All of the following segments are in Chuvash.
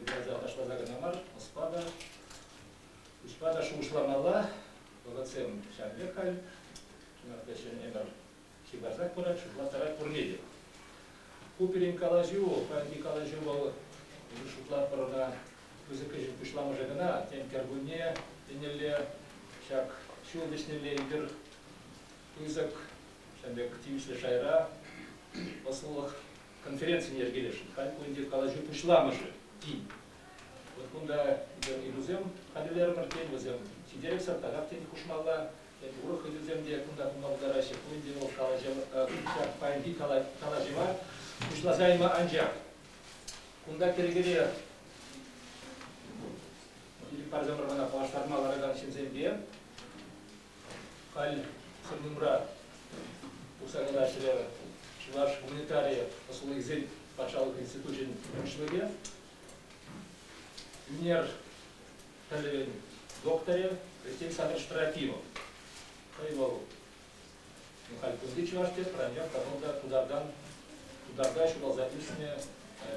юрласа ташласа кӑна мар, ӑспа та, куҫпа та шухӑшламалла. Вӑхӑтсем ҫав пек халь. Чӑнах та ҫӗнӗ ӗмӗр ҫывхарсах пырать, шутлаттарать пурне те. Ку пирӗн калаҫу, паянхи калаҫу вӑл, эпир шутлатпӑр ӑна пысӑк ӗҫӗн пуҫламӑшӗ кӑна. Тен, кӗркунне еннелле, ҫак ҫул вӗҫнелле эпир пысӑк, ҫавӑн пек тивӗҫлӗ шайра, ӑслӑх конференцин йӗркелӗшӗн халь ку ӗнтӗ калаҫу пуҫламӑшӗ тин. Вот кунта ыйтусем хатӗрлерӗмӗр, тен, вӗсем ҫителӗксӗр таках тен хушмалла, тен, урӑх ыйтусем те кунта пулма пултараҫҫӗ. Ку ӗнтӗ вӑл ҫак паянхи калаҫӑва пуҫласа яма анчах. Кунта кӗркере парсамӑр мана паллаштарма ларакан ҫынсемпе Халь Хӗрлӗмура Укҫа-тенкӗ ӗҫлевӗ Чӑваш гуманитари услугисен патшалӑх институчӗн пуҫлӑхӗ, ӳнер пӗлӗвӗн докторӗ Алексей Александрович Трофимов. Хӑй вӑл ну, халь кунти чӑваш тет, пӗранчах тӑхӑр та тутартан тутарта ҫуралса ӳснӗ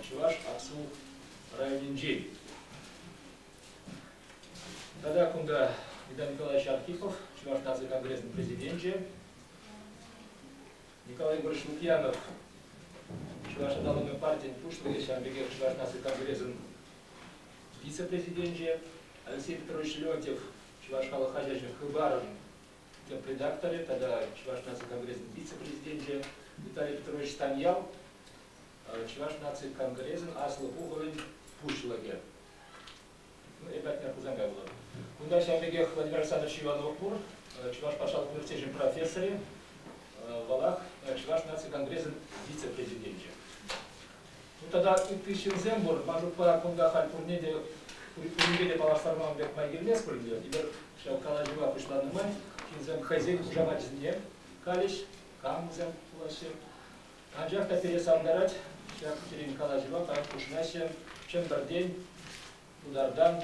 чӑваш Аксу районӗнчен. Тата кунта Виталий Николаевич Архипов, Чӑваш наци конгресӗн президенчӗ, Николай Егорович Лукьянов, Чӑваш аталанӑвӗн партийӗн пуҫлӑхӗ, ҫавӑн пекех Чӑваш наци конгресӗн вице-президенчӗ Алексей Петрович Леонтьев, Чӑваш халӑх хаҫачӗн «Хыпарӑн» тӗп редакторӗ тата Чӑваш наци конгресӗн вице-президенчӗ Виталий Петрович Станьял, Чӑваш наци конгресӗн Аслӑ Пухӑвӗн пуҫлӑхӗ. Ребята, Хусанкай вулӑр. Кунта ҫав пекех Владимир Александрович Иванов пур, Чӑваш патшалӑх университечӗн профессорӗ, вӑлах Чӑваш наци конгресӗн вице-президенчӗ. Ну тата ытти ҫынсем пур. Ман шутпа, кунта халь пурне те пуринпе те паллаштарман пек май килмест пуль ӗнтӗ. Эпир ҫав калаҫӑва пуҫланӑ май ҫынсем хӑйсен хушамачӗсене калӗҫ, камсем пулаҫҫӗ. Анчах та пире савӑнтарать ҫак пирӗн калаҫӑва, парад хушӑнаҫҫӗ Чӗмпӗртен, Тутартан,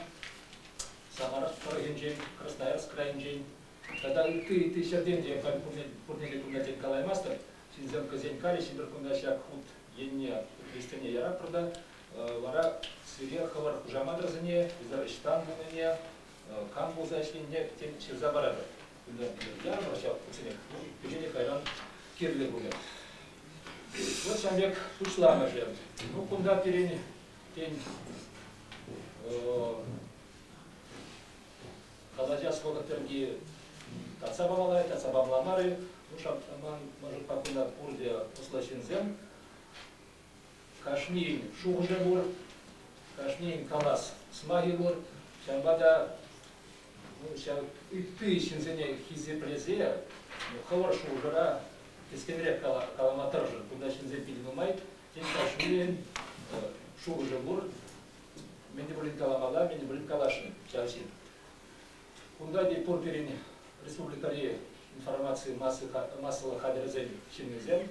Самаров тӑрӑхӗнчен, Красноярск крайӗнчен тата ытти-ытти ҫӗртен те халь пурне те кунта тен калаймастӑп. Ҫынсем хӑйсен калӗ ҫитӗр кунта ҫак хут енне хресчене яратпӑр та вара сире хӑвӑр хушаматӑрсене, ӑҫтан пулнине, кам пулса ӗҫленине тен ҫырса паратӑп. Я прощал путсене печени кайран кирлӗ пулӗ. Вот ҫам пек пуҫламӑшӗ. Ну, кунта пирен, тен, калача сколько тӗрки татса памалай, татса памламарӗ. Ну, шап, ман, может, пакунта пурте осла ҫынсем. Кашнин шухӑшӗ пур, кашнин калас сӑмахӗ пур. Ҫавӑнпа та ну, ҫав ытти ҫынсене хисеплесе ну, хӑвӑр шухӑшӑра кӗскенрех калама тӑрӑшӑр. Кунта ҫынсем питӗ нумай, тен, кашнин шухӑшӗ пур. Мӗн те пулин каламалла, мӗн те пулин каласшӑн ҫав ҫын. Кунта те пур пирӗн республикӑри информаци массӑлӑх хатӗрӗсен ҫыннисем,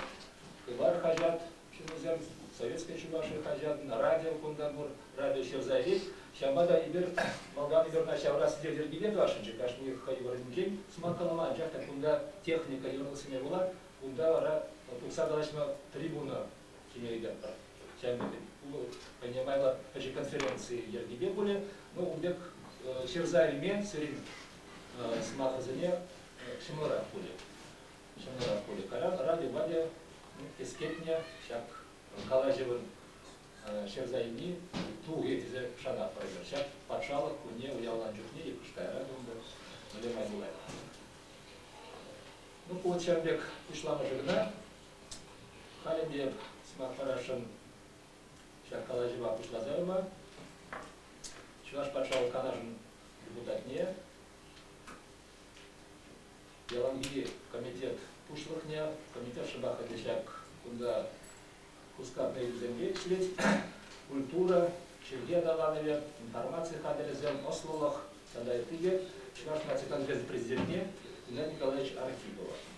Хыпар хаҫат ҫыннисем, Советская Чувашия хаҫат, на радио кунта пур, радио ҫырса илет. Ҫавӑнпа та эпир малтан эпир ҫавӑрас йӗркене тӑвасшӑнччӗ, кашни хӑй вырӑнӗнчен сӑмахкалама, анчах та кунта техника йӑрлӑхсене пула, кунта вара тухса калаҫма трибуна Ҫӗнӗрен аппа чӗннӗ пулӑ хӑйне майлӑ пӗчӗк конференци йӗркипе пулӗ. Ну, ун пек ҫырса илме сирӗн сӑмахӑрсене ҫӑмӑлрах пулӗ. Ҫӑмӑлрах пулӗ. Кайран радио-вадио кӗскетнӗ ҫак калаҫӑвӑн ҫырса илни тухӗ тесе шанатпӑр эпир. Ҫак патшалӑх кунне уявланӑ чухне те пуш кайран тунтӑр Валерий Мазулаев. Ну, ку ҫавӑн пек пуҫламӑшӗ кӑна. Халӗ те сӑмах парасшӑн ҫак калаҫӑва пуҫласа яма Чӑваш патшалӑх канашӗн депутатне яланхи комитет пуҫлӑхне, комитет шӑпах ӗнтӗ ҫак кунта хускатнӑ ыйтусемпе ӗҫлет, культура, чӗлхе аталанӑвӗ, информаци хатӗрӗсем, ӑслӑлӑх тата ытти те Чӑваш наци конгресс президентне Геннадий Николаевич Архипова.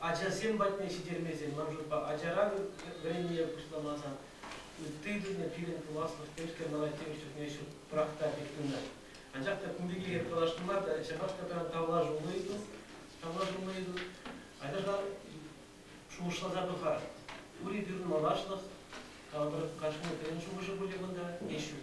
ачасем патне ҫитермесен, ман шутпа, ачаран вӗренме пуҫламасан, ытти тӗлне пирӗн пуласлӑх пепке мана тепӗр чухне ҫук пӑрахта пек тытӑнать. Анчах та кун пирки эп каласшӑн мар та, ҫапах та пиран тавлашуллӑ ыйту, тавлашуллӑ ыйту. Ачаша шухӑшласа пӑхар. Ури пирӗн малашлӑх, калӑпӑр, кашни пирӗн шухӑшӗ пулӗ кунта, е ҫук.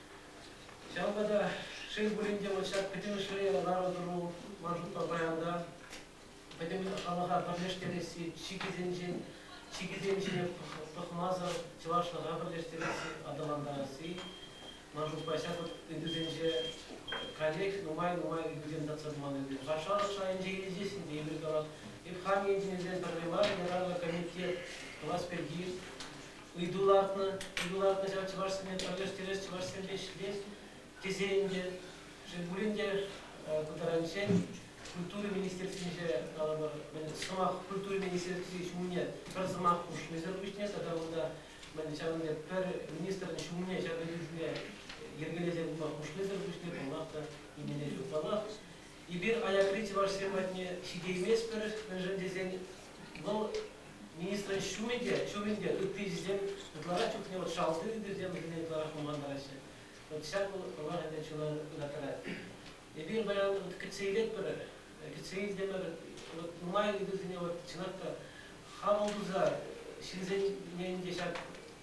Ҫавӑнпа та шел пулин те вот ҫак пӗтӗмӗшле лару-тӑру маршрутпа паян та пӗтӗм халӑха пӗрлештересси, чикӗсенчен чикӗсенче пӑхмасӑр чӑвашлӑха пӗрлештересси, аталантарасси маршрутпа ҫак ыйтусенче коллег нумай-нумай ыйтусем татса туман ӗнтӗ. Патшалӑх шайӗнче иртесен те эпир тӑрӑх, эп хам енчен пӗрле мар, ятарлӑ комитет тӑвас пирки ыйту лартнӑ, ыйту лартнӑ ҫав чӑвашсене пӗрлештерес, чӑвашсемпе ӗҫлес тесе ӗнтӗ шел пулин те пытаранччен культура министерствинче калӑпӑр сӑмах культура министерстви ҫумне пӗр сӑмах хушмисӗр пуҫне тата унта ҫавӑн пек пӗр министрӑн ҫумне ҫак ыйту ҫумне йӗркелесе пыма хушнисӗр пуҫне паллах та нимене ҫук. Паллах, Эпир аякри чӑвашсем патне ҫитейместпӗр, мӗншӗн тесен вӑл министрӑн ҫумӗ те, ҫумӗн те, ытти ӗҫӗсем ытларах чухне вот шалти ыйтусем вӗсене ытларах манмараҫҫӗ. Вот ҫак вӑл пӑлах ӗнтӗ чуна ыраттарать. Эпир баян вот кӗтсе илетпӗр, кӗтсе илтӗмӗр, вот нумай ыйтусене вот чӑнах та хапӑл туса ҫынсене те ҫак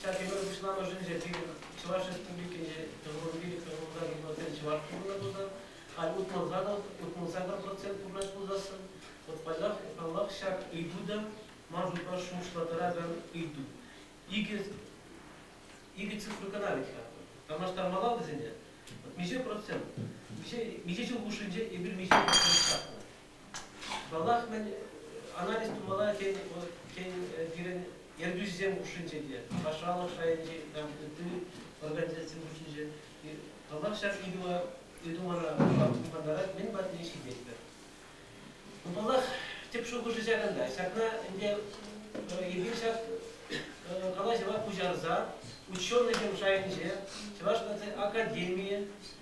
Ҫак йывӑр пуҫламӑшӗнче пирӗн Чӑваш Республикинче тӑвӑрри тӑвӑрра йывӑрсен чӑвашки пулнӑ пулсан, халь утмӑл сакӑр процент пурнӑҫ пулсассӑн, вот паллах, паллах ҫак ыйту та ман шутпа шухӑшла тӑракан ыйту. Икӗ, икӗ цифру кӑна вӗт-ха. Танлаштармалла вӗсене. Миҫе процент? Миҫе, миҫе ҫул хушшинче эпир миҫе процент ҫакнӑ? Малах мӗн анализ тумалла тен, тен пирӗн ертӳҫӗсем хушшинче те, патшалӑх шайӗнчи ытти организацисем хушшинче паллах ҫак ыйту мана хумхантарать, мӗн патне ҫитетпӗр. Ну, паллах, тӗп шухӑшӗ ҫакӑнта. Ҫакна ӗнтӗ эпир ҫак калаҫӑва пуҫарса ученӑйсем шайӗнче, Чӑваш наци академийӗ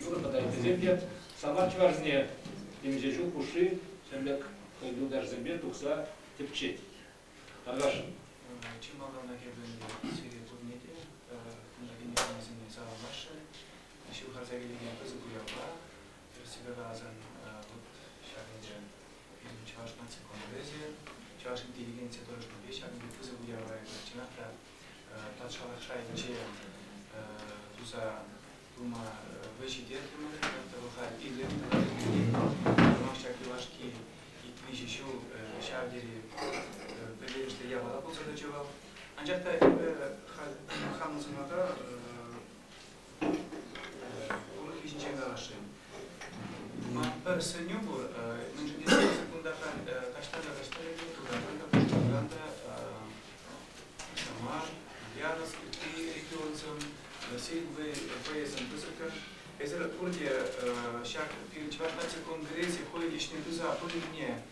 Вӑхӑта ыттисем те самар чӑвашсене темиҫе ҫул хушши ҫӗрлӗк юлташсемпе тухса тӗпчет. Аркаш. Чи малтанах эпӗ сире пурне те кунтаки никамсене саламлаҫҫӗ. Ҫывхарса килекен пысӑк уявпа тӗрӗссипе каласан вот ҫак ӗнтӗ пирӗн Чӑваш наци конгресӗ Чӑваш интеллигенцийӗ тӑрӑшнипе ҫак пысӑк уява эпӗ чӑнах та патшалӑх шайӗнче туса тума вӑй ҫитертӗмӗр. Тӑлӑха илем тӑватӑн Сӑмах ҫак юлашки ик-виҫӗ ҫул ҫав тери пӗлтерӗшлӗ япала пулса тӑчӗ вӑл. Анчах та эпӗ хамӑн сӑмаха ӗҫчен каласшӑн. Пӗр сӗнӳ пур, мӗншӗн тесен кунта таҫта та таҫта ӗҫе тутаран та, пушкӑртан та Самар, Ульяновск, ытти регионсем, Российӑн ВСӗн пысӑккӑн. Эсир пурте ҫак пирӗн чӑваш наци конгресӗ хӑйӗн ӗҫне туса пынине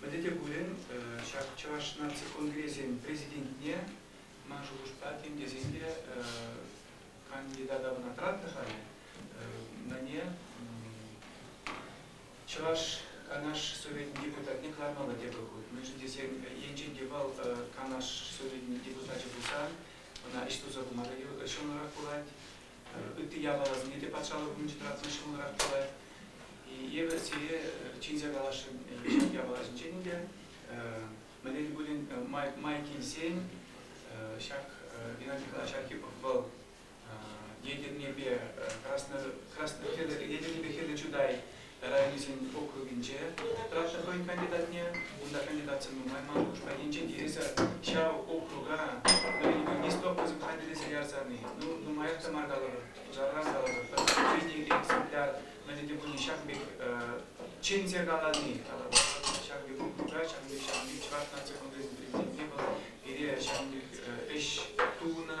Мӗнле те пулин ҫак Чӑваш наци конгресӗн президентне ман шухӑшпа тем тесен те кандидата вӑна тӑратнӑ халӗ. Мӗне Чӑваш Канаш Совечӗн депутатне кӑлармалла тепӗр хут. Мӗншӗн тесен енчен те вӑл Канаш Совечӗн депутачӗ пулсан, ӑна ӗҫ туса пыма та ҫӑмӑлрах пулать. ытти япаласене те патшалӑх умӗнче тӑратсан ҫӑмӑлрах пулать. Эпӗ сире чӗнсе каласшӑн ҫак япала ҫинчен ӗнтӗ. Мӗнле пулин май килсен ҫак Геннадий ҫархи вӑл ядернепе хӗрлӗ хӗрлӗ чутай районӗсен округӗнче вӑхӑтра хӑйӗн кандидатне, унта кандидатсем нумай мар хушма енчен тивӗсӗр ҫав округа вӗренӳпе-нестле образӗн хатӗрлесе ярсани, ну, нумаях та мар калӑпӑр, пушарран калӑпӑр, пӗр жизнелле экземпляр мӗнле те пулин ҫакӑн пек чӗнсе калани тата ҫакӑн пек округа, ҫакӑн пек ҫавӑн пек чӑваш наци конгресӗн президентне вӑл пире ҫавӑн пек ӗҫ тунӑ.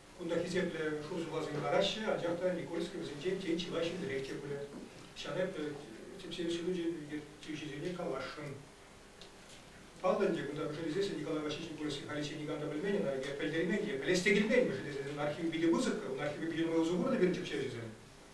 Кунта хисеплӗ шурсуласем лараҫҫӗ, анчах та Никольский вӗсенчен тен чылай ҫӗнтерех те пулӗ. Ҫавна эпӗ тӗпсен ҫылучӗ ертӳҫисене каласшӑн. Паллӑ ӗнтӗ, кунта пӗшелесессӗн Николай Васильевич Никольский халиччен никам та пӗлмен ӑна, я пӗлтермен, я пӗлес те килмен, мӗшӗн тесен ӑна архив питӗ пысӑк, ӑна архиве питӗ майлӑ сувар та пирӗн тӗпчевҫӗсем.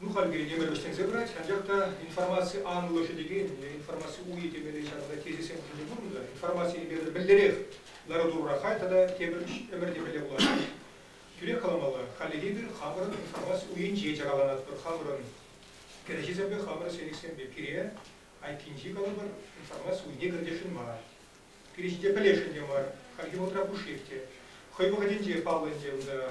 Ну, халь пире нимӗн вӗҫленсе пырать, анчах та информаци анлӑхӗ текен, е информаци уйӗ темелли ҫакӑнта тезисем хушӑнчӗ пулнӑ-тӑр. Информаци эпир мӗнлерех лару-тӑрура хай тата тепӗр ӗмӗр темелле пулать. Тӳрех каламалла, хальлӗхе эпир хамӑрӑн информаци уйӗнче чакаланатпӑр, хамӑрӑн кӗреҫесемпе, хамӑрӑн сенӗксемпе. Пире айккинчи, калӑпӑр, информаци уйне кӗртесшӗн мар. Пире ҫинче пӗлесшӗн те мар. Хальхи вӑхӑтра пушшех те. Хӑй вӑхӑтӗнче паллӑ ӗнтӗ унта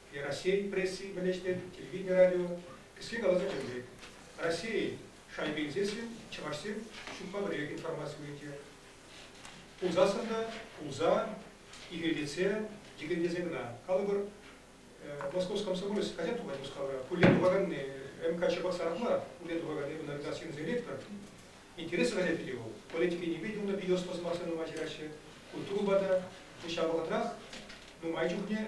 Раҫҫейӗн пресси мӗнлешнӗ телевидени радио кӗске каласа чӗнет. Раҫҫейӗн шайбинчесем чӑвашсем ҫукпа пӗрех информаци уйӑрчӗ. Пулсассӑн та пулса, ирейлетсе, йӗкӗнлесе кӑна. Калӑпӑр, Московский комсомолец хаҫат тухать Мускавра. Куллен тухаканни МК Чебоксаров мар, куллен тухаканни унӑн редакцийӗнчен ректор. Интереслӗ хаҫат пирки вӑл. Политика енӗпе те унӑн видеоспа сӑмахсем нумай ҫыраҫҫӗ, культурӑпа та. Ҫав вӑхӑтрах нумай чухне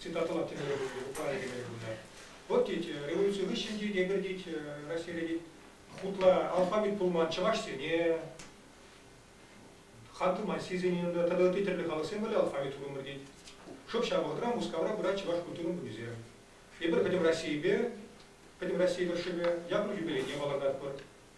цитатӑна тӗмере хывнӑ, Украина кӗмеле хывнӑ. Вот тет, революци хыҫҫӑн тет, эпир тет, Россире тет, хутла алфавит пулман чӑвашсене, хан тумансисене тата ытти тӗрлӗ халӑхсем валли алфавит тунӑмӑр тет. Шӑп ҫав вӑхӑтра Мускавра пырать чӑваш культурин кунӗсем. Эпир пӗтӗм Российӗпе, пӗтӗм России тӑрӑшшӗпе япӑх юбилейне палӑртатпӑр.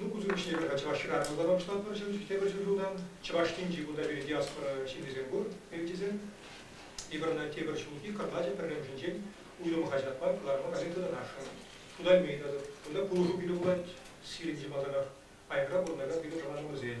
Ну, кусем пуҫне тата Чӑвашра тутара пуҫлатпӑр ҫӗр тепӗр ҫӗр ҫулта. Чӑваш Енчи кунта пире диаспора ҫыннисем пур, перчисем. Тепӗр тепӗр ҫулхи кӑрлачӑ пӗрремӗшӗнчен уйрӑм хаҫатпа кӑларӑма газетӑна ашшӗ. Кунта мей тата, кунта пулӑшу кӳлӗ пулать, Сиринчи малтанах Айӑкра пурӑнакан пирӗн тӑванӑмӑрсен.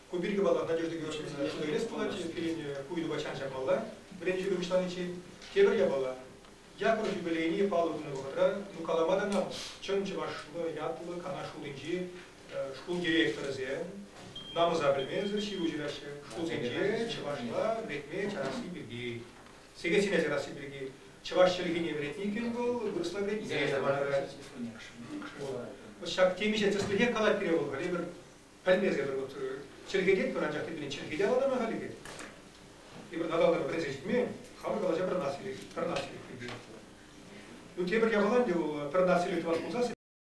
Ку пирки вӑл Надежда Георгиевна шута илес пулать, пирӗн ку ыйтупа чан чакмалла. Вӗрентӳ пурнӑҫланиччен тепӗр япала, Яков юбилейне паллӑ тунӑ вӑхӑтра, ну калама та мел, чӑн чӑвашлӑ ятлӑ канаш шутӗнчи шкул директорӗсем намӑса пӗлмесӗр ҫыру ҫыраҫҫӗ шкулсенче чӑвашла вӗрентме чарасси пирки, сехетсене чарасси пирки. Чӑваш чӗлхине вӗрентни иккен вӑл, вырӑсла вӗрентнине чармарта. Ҫак темиҫе тӗслӗхе калать пире вӑл, халӗ пӗр пӗлмесӗр чӗркететпӗр, анчах теприне чӗркет авалтанах халӗ Эпир Наталӑра вӗресе ҫитмен, хамӑр калаҫа пӗр нас илет, пӗр нас илет. Ну, тепӗр япалан те вӑл пӗр нас илет тӑвас пулсан